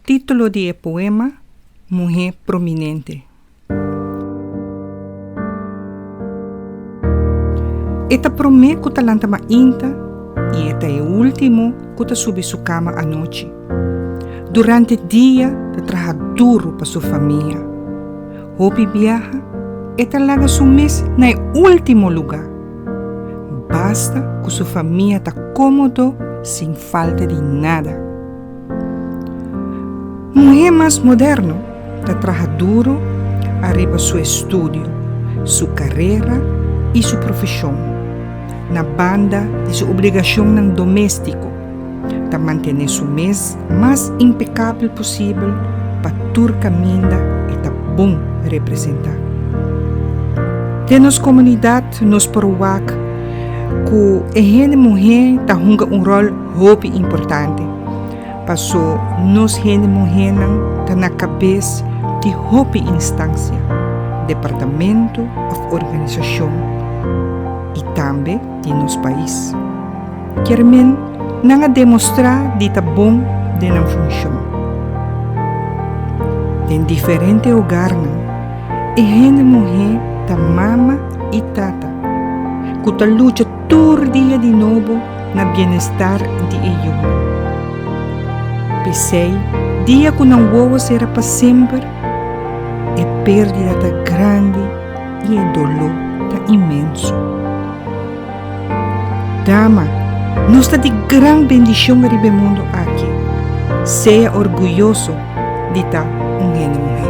Titulo di e poema, Muhe prominente. E ta prome ku ta lanta mainta i e ta e ultimo ku ta subi su kama anochi. Durante dia ta traha duru pa su famia. Hopi biaha e ta laga su mes na e ultimo luga. Basta ku su famia ta komodo sin falta di nada. Muhé mas moderno ta traha duru ariba su estudio, su karera i su profeshon, na banda di su obligashonnan doméstiko, ta mantené su mes mas impekabel posibel pa tur kaminda e ta bon representá. Den nos komunidat nos por wak ku e hende muhé ta hunga un ròl. Hopi importante, paso nos hende muhénan ta na kabes di hopi instansia, departamentu òf organisashon i tambe di nos pais. Kermen nan a demostrá di ta bon den nan funshon. Den diferente hogarnan e hende muhé ta mama i tata ku ta lucha Tur dia di nobo na bienestar di e yunan. P'esei, dia ku nan wowo sera pa semper, e pérdida ta grandi i e doló ta inmenso. Dama, nos ta di gran bendishon riba e mundu aki. Sea orguyoso di ta un hende muhé.